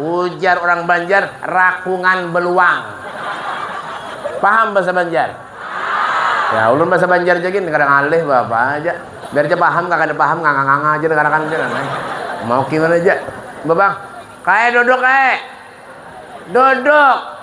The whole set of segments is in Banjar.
Ujar urang Banjar, rakungan beluang. Paham bahasa Banjar? Ya, ulun bahasa Banjar ja gin kada ngalih beapa ja. Biar ja paham kah kada paham nganga-nganga ja dengarakan ja nah. Mau gimana ja. Babang, kae duduk kae. Duduk.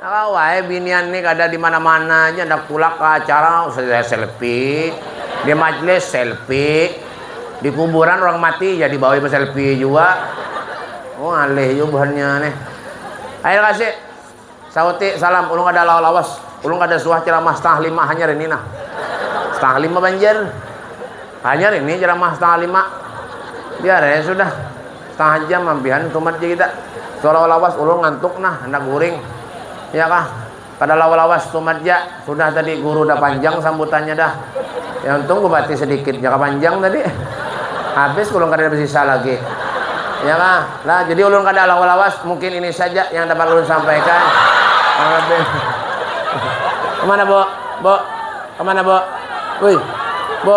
Tahu ai binian ni kada di mana-mana ja handak tulak ka acara selfie, di majlis selfie, di kuburan urang mati jadi bawai beselfie jua. Oh ngalih jua buhannya nih. Akhir kasih sauti salam ulun kada lawas-lawas, ulun kada suah ceramah setengah lima hanyar ini nah. Setengah lima banjir. Hanyar ini ceramah setengah lima. Biar ai sudah. Setengah jam ampihan tumat ja kita. Sudah lawas-lawas ulun ngantuk nah, handak guring. Ya kah? Kada lawas-lawas tumat ja, sudah tadi guru dah panjang sambutannya dah. Ya untung bupati sedikit ja kah panjang tadi. Habis ulun kadada besisa lagi. Ya kah? Lah jadi ulun kada lawas-lawas, mungkin ini saja yang dapat ulun sampaikan. Kurang lebih. Kemana, Bu? Bu? Kemana, Bu? Wih. Bu?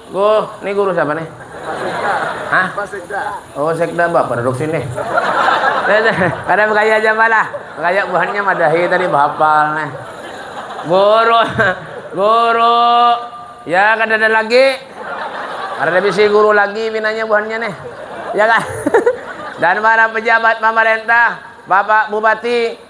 Guh, ini guru siapa nih? Hah? Pak Sekda. Oh, Sekda bah produksi nih. Kada bergaya aja malah. Bergaya buhannya madahi tadi bahapal nih. Guru. Guru. Ya kada ada lagi. Kada ada bisi guru lagi pinanya buhannya nih. Ya kan? Dan para pejabat pemerintah, Bapak Bupati,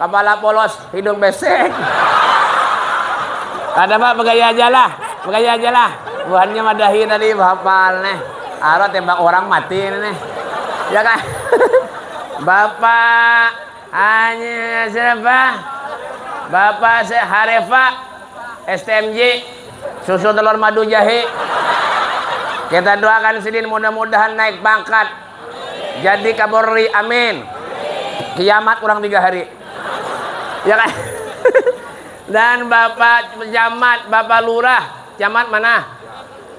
Kapala polos, hidung besek. Kada pak, begaya aja lah, begaya aja lah. Buhannya madahi tadi, bahapal nih. Arwah tembak orang mati ini nih. Ya kan? Bapak hanya siapa? Bapak se Harefa STMJ susu telur madu jahe. Kita doakan sidin mudah-mudahan naik pangkat. Jadi kaborri amin. Kiamat urang tiga hari. Ya kan? Dan Bapak Camat, Bapak Lurah. Camat mana?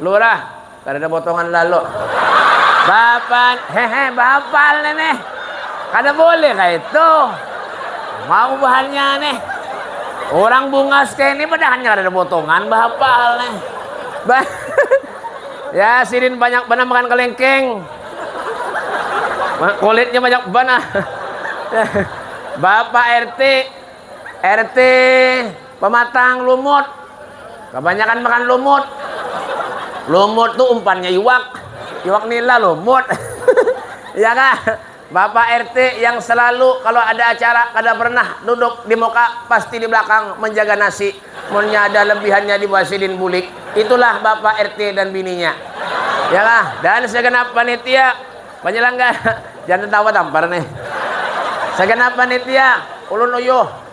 Lurah. Kada ada potongan lalu. Bapak, hehe, Bapak nenek. Kada boleh kah itu? Mau bahannya nih. Orang bungas kayak ini padahannya kada ada potongan Bapak nih. Ba Ya sidin banyak banar makan kelengkeng. Kulitnya banyak banar. Bapak RT, RT pematang lumut. Kebanyakan makan lumut. Lumut tuh umpannya iwak. Iwak nila lumut. ya kah? Bapak RT yang selalu kalo ada acara kada pernah duduk di muka pasti di belakang menjaga nasi munnya ada lebihannya di buah sidin bulik itulah bapak RT dan bininya ya kah dan segenap panitia penyelenggara jangan tertawa tampar nih segenap panitia ulun uyuh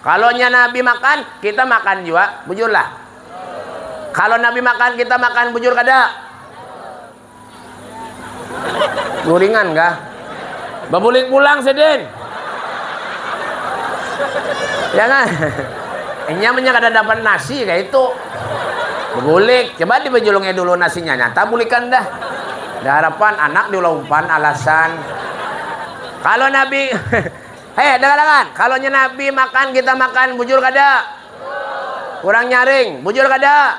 Kalau nya Nabi makan, kita makan jua, bujur lah. Kalau Nabi makan, kita makan, bujur kada? Guringan kah? Babulik pulang sidin. Ya kan? Inya punya kada dapat nasi kayak itu. Babulik, coba dibajulungnya dulu nasinya, nyata bulikan dah. Ada harapan anak diulah umpan alasan. Kalau Nabi Hei, dengar-dengar. Kalau nya Nabi makan, kita makan. Bujur kada? Kurang nyaring. Bujur kada?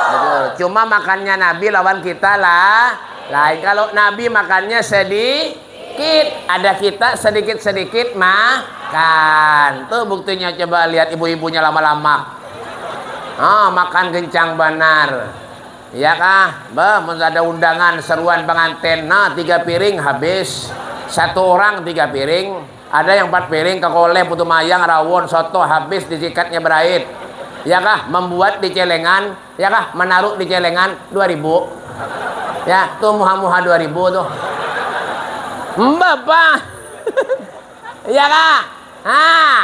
Bujur. Cuma makannya Nabi lawan kita lah. Lain. Kalau Nabi makannya sedikit. Ada kita sedikit-sedikit makan. Tuh buktinya coba lihat ibu-ibunya lama-lama. Ah, makan kencang banar. Iya kah? Bah, mun ada undangan seruan pangantin, nah tiga piring habis. Satu urang tiga piring, ada yang empat piring kakoleh putu mayang, rawon, soto, habis disikatnya berait. Iya kah? Mambuat di celengan, iya kah? Manaruh di celengan dua ribu. Ya, tuh muha-muha dua ribu tuh. Mbah, bah. Iya kah? Hah.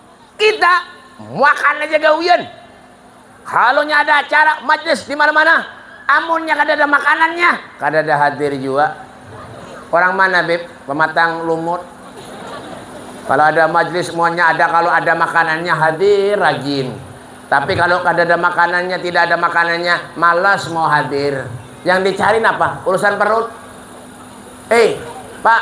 Kita muakan aja gawian. Kalau nya ada acara majlis di mana-mana, amunnya kada ada makanannya, kada ada hadir jua. Orang mana bib? Pematang lumut. Kalau ada majlis muanya ada kalau ada makanannya hadir rajin. Tapi kalau kada ada makanannya, tidak ada makanannya, malas mau hadir. Yang dicari apa? Urusan perut. Eh, Pak,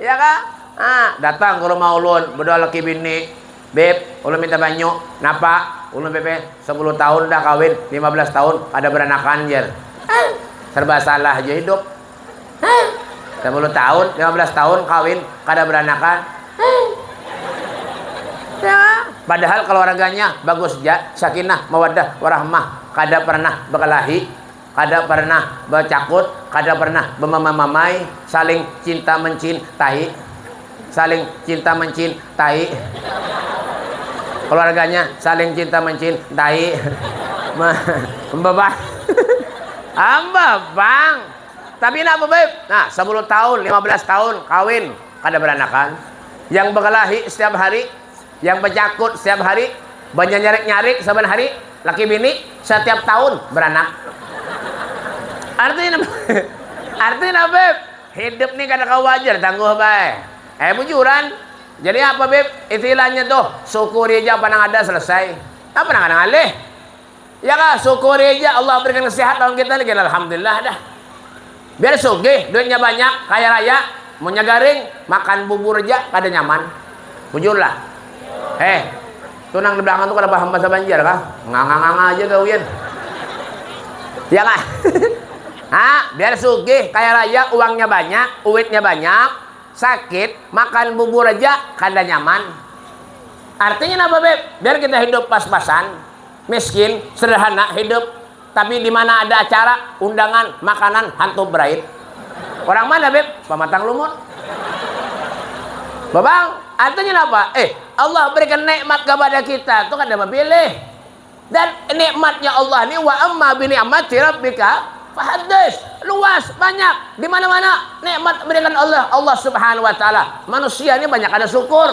Iya kah? Ha, datang ke rumah ulun, bedua laki bini. Beb, ulun minta banyu. Napa? Ulun bebe sepuluh tahun dah kawin, lima belas tahun kada beranakan jer. Hah, serba salah ja hidup. Hah, sepuluh tahun, lima belas tahun kawin, kada beranakan. Hah. Ya, padahal keluarganya bagus ja, sakinah, mawaddah, warahmah, kada pernah berkelahi. Kada pernah bacakut, kada pernah bamamamai, saling cinta mencin tai, saling cinta mencin tai, keluarganya saling cinta mencin tai, bebang, bebang, tapi nah bebeb, nah sabuluh tahun, lima belas tahun kawin kada beranakan, yang bekelahi setiap hari. Yang bacakut setiap hari, banyanyarik-nyarik saban hari, laki bini satiap tahun beranak. Artinya Artinya apa, Beb? Hidup nih kada kawa wajar tangguh bae. Eh bujuran, jadi apa Beb istilahnya tuh, syukuri aja apa nang ada selesai. Apa nang kada ngalih. Ya kah, syukuri ja Allah berikan sehat lawan kita ni, gin alhamdulillah dah. Biar sugih, duitnya banyak, kaya raya, munnya garing, makan bubur ja kada nyaman. Bujur lah. Heh, tu nang di belakang tu kada paham bahasa Banjar kah? Nganga-nganga aja gawian. Ya kah? ha, biar sugih, kaya raya, uangnya banyak, uitnya banyak, sakit, makan bubur aja kada nyaman. Artinya napa, Beb? Biar kita hidup pas-pasan. Miskin, sederhana hidup, tapi di mana ada acara, undangan, makanan, hantu berait. Orang mana, Beb? Pamatang Lumut. Babang, artinya napa? Eh, Allah berikan nikmat kepada kita, itu kada bapilih. Dan nikmatnya Allah ini wa amma bi ni'mati rabbika fahaddis. Luas, banyak, di mana-mana nikmat berikan Allah, Allah Subhanahu wa taala. Manusia ini banyak kada syukur.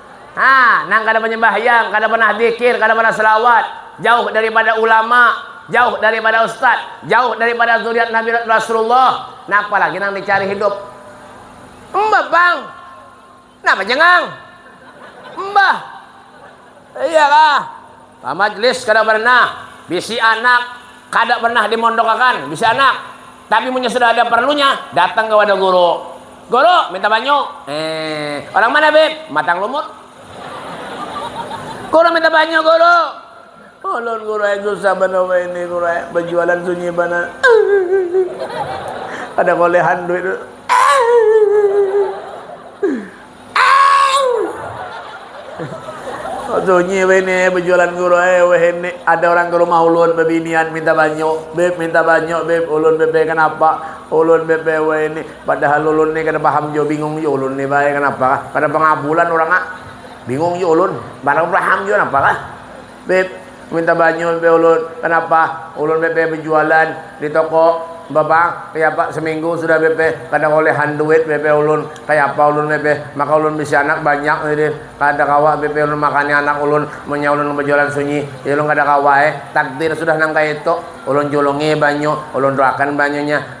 Nah, nang kada banyambahyang, kada pernah dzikir, kada pernah shalawat, jauh daripada ulama, jauh daripada ustad, jauh daripada dzuriyat Nabi Rasulullah, napa lagi nang dicari hidup? Mbah pang. Napa jangang? Mbah. Iyalah. Pamajlis kada pernah, bisi anak kada pernah dimondokakan, bisi anak, tapi munnya sudah ada parlunya datang ka wadah guru, Guru, minta banyu, eeh, orang mana bib, matang lumut, Guru minta banyu guru, ulun guru ai susah banar wahini guru ai, bajualan sunyi banar, eeh, kada kaolehan duit, eeh. Sunyi wahini bejualan guru ai wahini ada orang ke rumah ulun bebinian minta banyu, beb minta banyu beb, ulun beb ai kenapa, ulun beb ai wahini padahal ulun ni kada paham jua bingung jua ulun ni bah ai kenapa kah kada pengabulan urang ah, bingung jua ulun, kada paham jua napa kah. Beb, minta banyu nih ulun. Kanapa? Ulun BP bejualan di toko bapang kayapa seminggu sudah BP kada kolehan duit BP ulun. Kayapa ulun BP? Maka ulun bisi anak banyak nih deh. Kada kawa BP ulun makani anak ulun munnya ulun bejualan sunyi. Ih ulun kada kawa eh. Takdir sudah nang kaya itu. Ulun julungi banyu, ulun tuakan banyunya.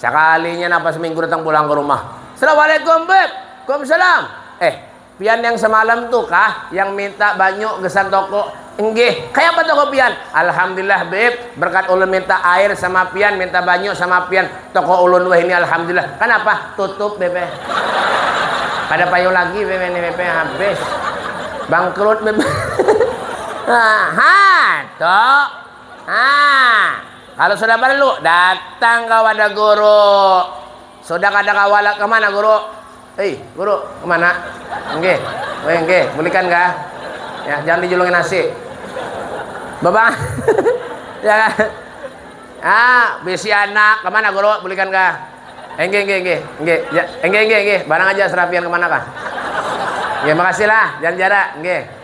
Sakalinya napa seminggu datang pulang ke rumah. Assalamualaikum beb. Kumsalam. Eh, pian yang semalam tu kah yang minta banyu gesan toko? Enggih. Kaya apa toko pian? Alhamdulillah beb, berkat ulun minta air sama pian, minta banyu sama pian, toko ulun wahini alhamdulillah. Kanapa? Tutup beb eh. Kada payung lagi beb ini beb eh. habis. Bangkrut beb. ha, ha, tok. Ha. Kalu sudah parlu, datang ka wadah guru. Sudah kada kawa lagi kemana guru? Hei, guru, kemana? Nggih, weh nggih, bulikan kah? Ya, jangan dijulungi nasi. Babang, ya kah? Ah, bisi anak, kemana guru? Bulikan kah? Enggih, enggih, enggih, enggih. Ya, enggih, enggih, enggih. Barang aja serapian kemana kah? Nggih, makasih lah, jangan jara. Nggih.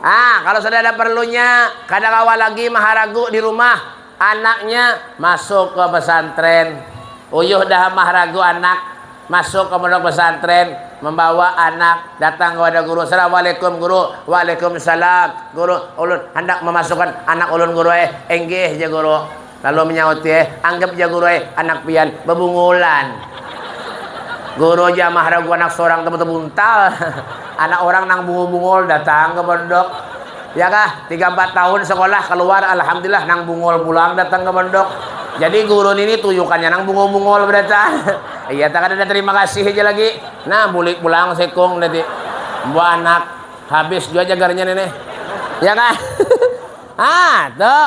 Nah, kalo sudah ada perlunya, kada kawa lagi maharagu di rumah, anaknya masuk ke pesantren. Uyuh dah maharagu anak, masuk ke pondok pesantren, membawa anak, datang kepada guru, Assalamualaikum guru, Waalaikumsalam guru, ulun handak memasukkan anak ulun guru eh, inggih ja guru. Lalu menyauti, eh, anggap ja guru eh, anak pian bebungulan. Guru ja mah ragu anak sorang tebuta buntal. Anak orang nang bungul-bungul datang ke pondok. Ya kah, tiga empat tahun sekolah keluar, alhamdulillah nang bungul pulang datang ke pondok. Jadi guru ini tuyukannya nang bungul-bungul berarti. Iya tak ada terima kasih aja lagi. Nah, bulik pulang sekung nanti. Buah anak habis juga jagarnya nenek. Ya kah? ah, tuh.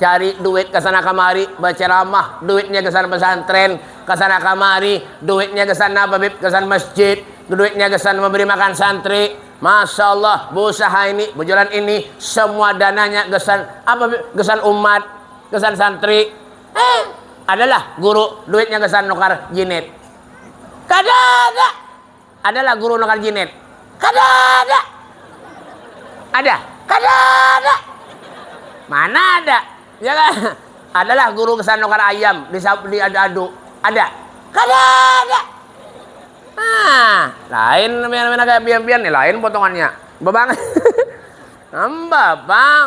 cari duit ke sana kamari, baceramah, duitnya gasan pesantren, ke sana kamari, duitnya gasan apa bib, gasan masjid, duitnya gasan memberi makan santri, masya Allah, busaha ini, bujuran ini, semua dananya gasan apa bib, gasan umat, gasan santri, eh adalah guru duitnya gasan nukar jinit, kada ada. Ada lah guru nukar jinet? Kada ada! Ada? Kada ada! Mana ada? Ya kan? Ada lah guru gasan nukar ayam di di adu adu? Ada? Kada ada! Nah, lain pian pian kaya pian pian nih lain potongannya. Babang. Nambah bang.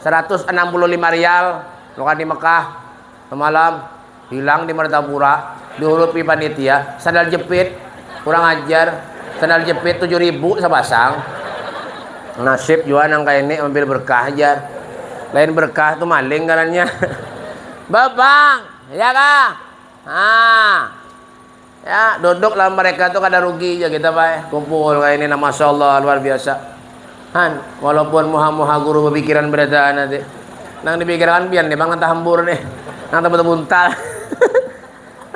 Saratus anam puluh lima rial makan di Mekah samalam, hilang di Martapura, dihurupi panitia, sandal jepit, kurang ajar, sandal jepit tujuh ribu sapasang. Nasib jua nang kaya ini ambil berkah ja, lain berkah tu maling ngarannya. Bebang, ya kah? Haa. Ya, duduk lawan mereka tu kada rugi ja kita bah, eh. kumpul kaya ini nah masya Allah luar biasa. Han, walaupun muha-muha guru bapikiran berataan nanti. Nang dipikirakan pian nih bang nang tahambur nih, nang tabuta buntal.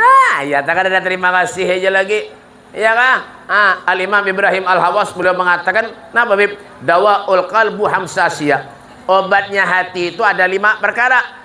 ah, ya tak ada terima kasih aja lagi. Ya kah? Ah, Al Imam Ibrahim Al Hawas beliau mengatakan, nah Bib, dawa ul qalbu hamsasia. Obatnya hati itu ada lima perkara.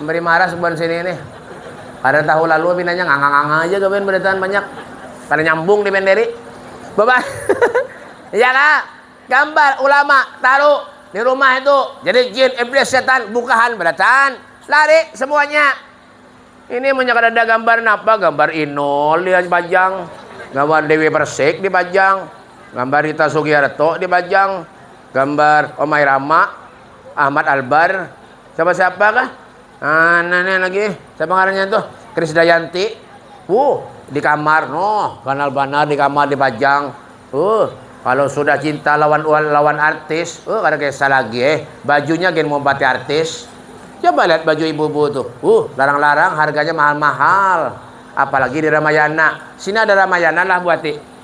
Memberi marah subuhan sini ini. Kada tahu lalu pinanya nganga-nganga aja gawian beritaan banyak. Kada nyambung di penderi. Baba ya kah? Gambar ulama taruh di rumah itu. Jadi jin, iblis, setan, bukahan beritaan. Lari semuanya. Ini munnya kada ada gambar napa? Gambar Inul di pajang. Gambar Dewi Persik di pajang. Gambar Rita Sugiarto di pajang. Gambar Omai Rama, Ahmad Albar, Siapa siapa kah? Ah, nah, nah, lagi. Siapa ngarannya tuh? Kris Dayanti. Uh, di kamar. Noh, ganal banar di kamar dipajang. Uh, kalau sudah cinta lawan lawan artis, uh, kada kisah lagi eh. Bajunya gen mompati artis. Coba lihat baju ibu-ibu tuh. Uh, larang-larang harganya mahal-mahal. Apalagi di Ramayana. Sini ada Ramayana lah buati.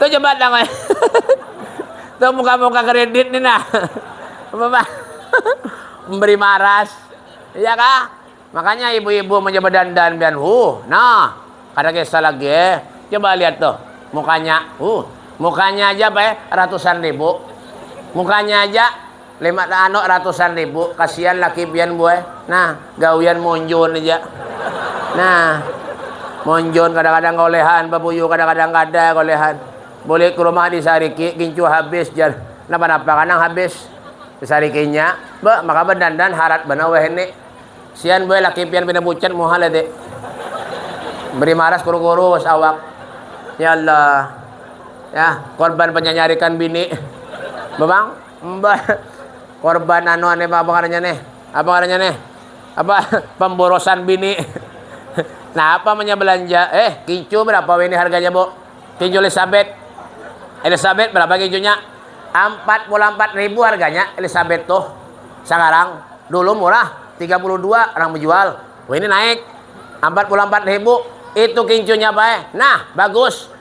Tuh coba dah kaya. Tuh muka-muka kredit nih nah. Bapak memberi maras. Iya kah? Makanya ibu-ibu mencoba dandan pian. Huh, nah. Kada kisah lagi eh. Coba lihat tuh mukanya. Huh, mukanya aja apa eh ratusan ribu. Mukanya aja Lima tahanok ratusan ribu, kasian laki pian buai. Nah, gawian monjon haja. Nah, monjon kadang-kadang kaolehan, babuyu kadang-kadang kada kaolehan. Bulik ka rumah disariki, gincu habis jar. Napa-napa kah nang habis? Disarikinya, beuh maka badandan harat banar wahini. Sian buai laki pian pina pucat muha lete. Beri maras kurus-kurus awak. Yaallah. Yah, korban panyanyarikan bini. Bapang. Mbah korban anu aneh apa ngarannya nih? Apa ngarannya nih? Apa pemborosan bini? nah apa namanya belanja? Eh kicu berapa ini harganya bu? Kicu Elizabeth. Elizabeth berapa kicunya? Empat puluh empat ribu harganya Elizabeth tuh. Sekarang dulu murah 32 orang menjual. Wah ini naik 44 ribu itu kincunya pak eh. Nah bagus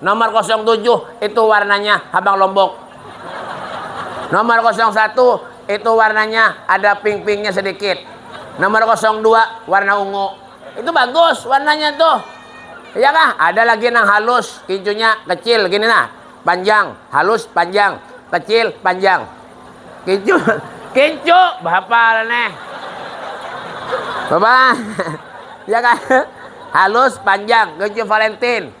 Nomor kosong tujuh itu warnanya habang lombok. Nomor kosong satu itu warnanya ada pink-pinknya sedikit. Nomor kosong dua warna ungu. Itu bagus warnanya tuh. Iya kah? Ada lagi nang halus, kincunya kecil gini nah. Panjang, halus, panjang, kecil, panjang. Kincu, kincu, bahapal nih. Bapak, ya kan? Halus, panjang, kincu Valentine.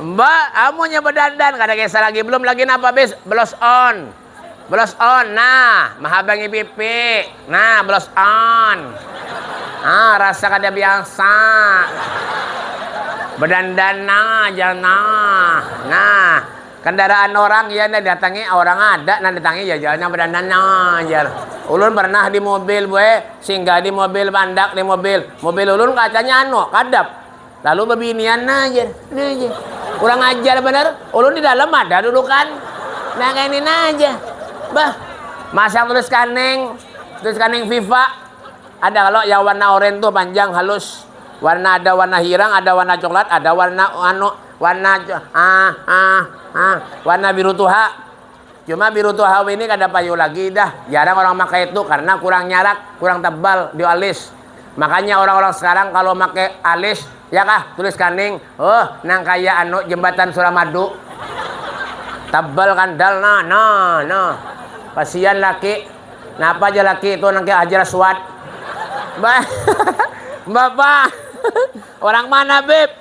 Mbak, amunnya bedandan kada kisah lagi, belum lagi napa bis, blush on. Blush on, nah, mahabangi pipi. Nah, blush on. Ah, rasa kada biasa. Bedandan nah, aja nah. Nah, kendaraan orang iya nang datangi, orang ada nang datangi ya jar nang bedandan nah, jar. Ulun pernah di mobil, bue, singgah di mobil, mandak di mobil. Mobil ulun kacanya anu, kadap. Lalu babinian nah jar, nah jar. Kurang ajar banar, ulun di dalam ada dudukan. Nah kaya ini nah aja. Bah, masang tulis kaning, tulis kaning Viva. Ada kalau yang warna oranye tuh panjang halus. Warna ada warna hirang, ada warna coklat, ada warna anu, warna ah ah ah warna biru tuha. Cuma biru tua hawi ni kada payu lagi dah, jarang orang makai tu karna kurang nyarak, kurang tebal di alis. Makanya orang-orang sekarang kalo makai alis, ya kah, tulis kaning, huh, nang kaya anu jembatan suramadu. Tebal kandal nah, nah, nah. Kasian laki, napa ja laki tu nang kaya Hajar Aswad. Ba, Bapak, orang mana bib?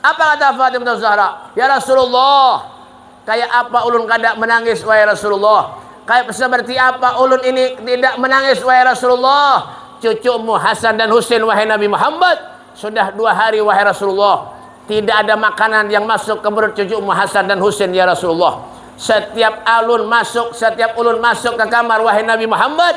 Apa kata Fatimah bintu Zahra, Ya Rasulullah, kaya apa ulun kada manangis wahai Rasulullah, kaya sabarti apa ulun ini tidak manangis wahai Rasulullah, cucumu Hasan dan Husain wahai Nabi Muhammad, sudah dua hari wahai Rasulullah, tidak ada makanan yang masuk ke perut cucumu Hasan dan Husain ya Rasulullah, setiap alun masuk setiap ulun masuk ke kamar wahai Nabi Muhammad,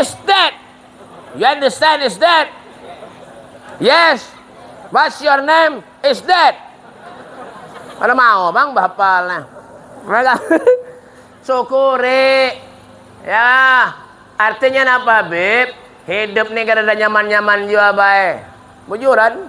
Is that? You understand is that? Yes. What's your name? Is that? Ada mau bang bapal nah. Syukuri. Ya. Artinya apa, Bib? Hidup nih kada ada nyaman-nyaman jua, Bay. Bujuran.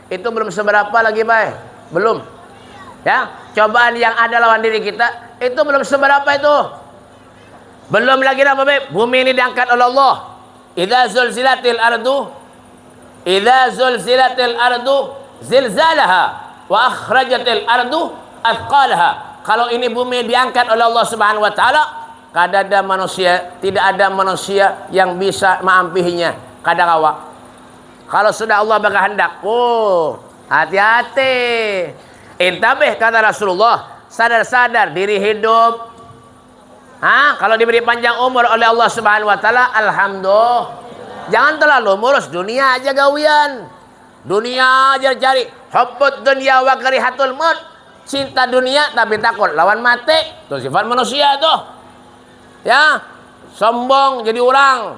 Itu belum seberapa lagi bay, belum. Ya, cobaan yang ada lawan diri kita itu belum seberapa itu. Belum lagi apa bay? Bumi ini diangkat oleh Allah. Idza zulzilatil ardu idza zulzilatil ardu zilzalaha wa akhrajatil ardu athqalaha. Kalau ini bumi diangkat oleh Allah Subhanahu wa taala, kada ada manusia, tidak ada manusia yang bisa maampihinya. Kada kawa. Kalau sudah Allah bakahandak, oh, hati-hati. Intabih kata Rasulullah, sadar-sadar diri hidup. Hah? Kalau diberi panjang umur oleh Allah Subhanahu wa taala, alhamdulillah. Jangan terlalu murus dunia aja gawian. Dunia aja cari. Hubbud dunia wa karihatul maut. Cinta dunia tapi takut lawan mati. Itu sifat manusia tuh. Ya, sombong jadi orang.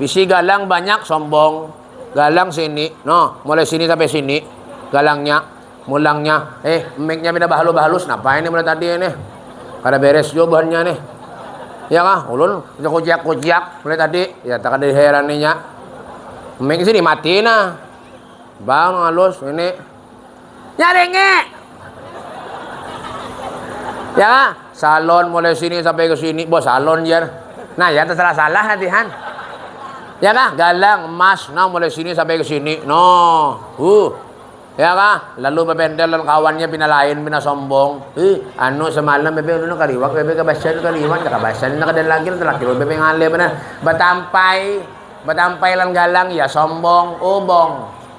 Bisi galang banyak sombong. Galang sini. Noh, mulai sini sampai sini. Galangnya. Mulangnya. Eh, mic-nya pina bahalus-bahalus. Napa ini mulai tadi ini? Kada beres jua buhannya nih. Ya kah? Ulun kuciak-kuciak mulai tadi. Ya, tak ada diheraninya. Mic sini mati nah. Bang, halus. Ini. Nyaringi. Ya, salon mulai sini sampai ke sini, bos salon jar. Nah, ya terserah salah latihan. Ya kah? Galang, emas, nah mulai sini sampai ke sini. No. Uh. Ya kah? Lalu bebendel dan kawannya pina lain, pina sombong. Ih, anu semalam bebe anu kaliwak, bebe kabasan kaliwak, nah kabasan nah dan lagi laki lo bebe ngalih benar. Batampai, batampai lan galang ya sombong, ubong.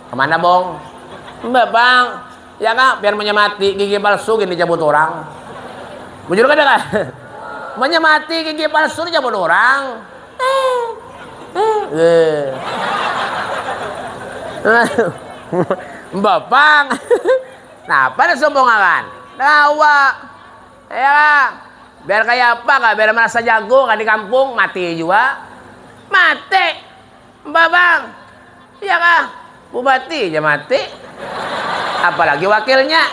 Kemana bong? Mbak bang, ya kak pian munnya mati gigi palsu gin dicabut urang. Bujur kada kak? Munnya mati gigi palsu dicabut urang. Mbak bang, napa ada sumpungakan? Kawa. Ya kak, biar kaya apa kak, biar merasa jago kak di kampung, mati jua. Mati. Babang, iya kah? Bupati ja mati. Apalagi wakilnya.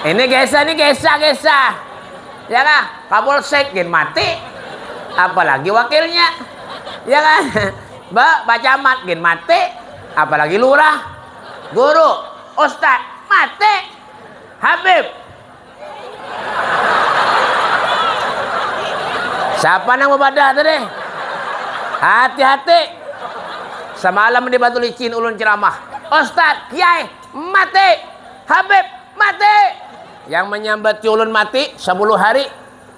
Ini gesa ini gesa gesa. Ya kah? Kapolsek gin mati. Apalagi wakilnya. Ya kah? Ba, bacamat gin mati. Apalagi lurah. Guru, ustad mati. Habib, Siapa nang bapadah tadi? Hati-hati. Semalam di Batu Licin ulun ceramah. Ustaz, Kiai, mati. Habib, mati. Yang menyambat ulun mati 10 hari.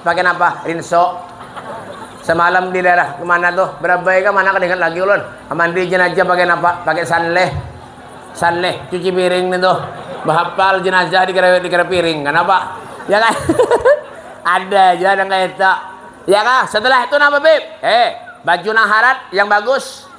Pakai napa? Rinso. Semalam di daerah kemana tuh? Berabai kah mana kada ingat lagi ulun. Mandi jenazah pakai napa? Pakai sanleh. Sanleh cuci piring nih tuh. Bahapal jenazah dikira dikira piring. Kanapa? Ya kan? Ada aja nang kaya itu. Ya kah? Setelah itu napa, Bib? Eh, baju nang harat, yang bagus.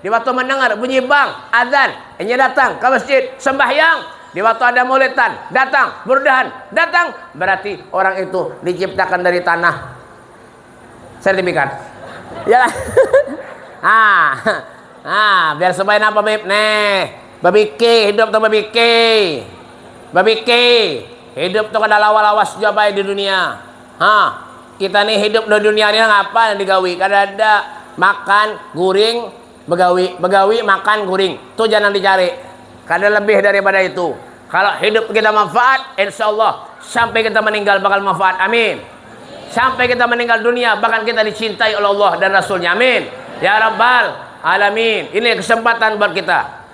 Di waktu mandangar bunyi bang, adzan, inya datang ka masjid, sambahyang. Di waktu ada maulidan, datang, burdahan, datang. Bararti orang itu diciptakan dari tanah. Sertifikat. Iyalah. Nah, nah, biar supaya napa bib? Nih, babiki, hidup tuh babiki. Babiki. Hidup tuh kada lawa-lawas jua baik di dunia. Ha, kita ni hidup di dunia ni apa yang digawi? Kada ada. Makan, guring, begawi. Begawi, makan, guring. Tu ja nang dicari. Kada lebih daripada itu. Kalo hidup kita manfaat, insya Allah sampai kita meninggal bakal manfaat. Amin. Sampai kita meninggal dunia bahkan kita dicintai oleh Allah dan Rasulnya. Amin. Ya Rabbal Alamin. Ini kesempatan buat kita.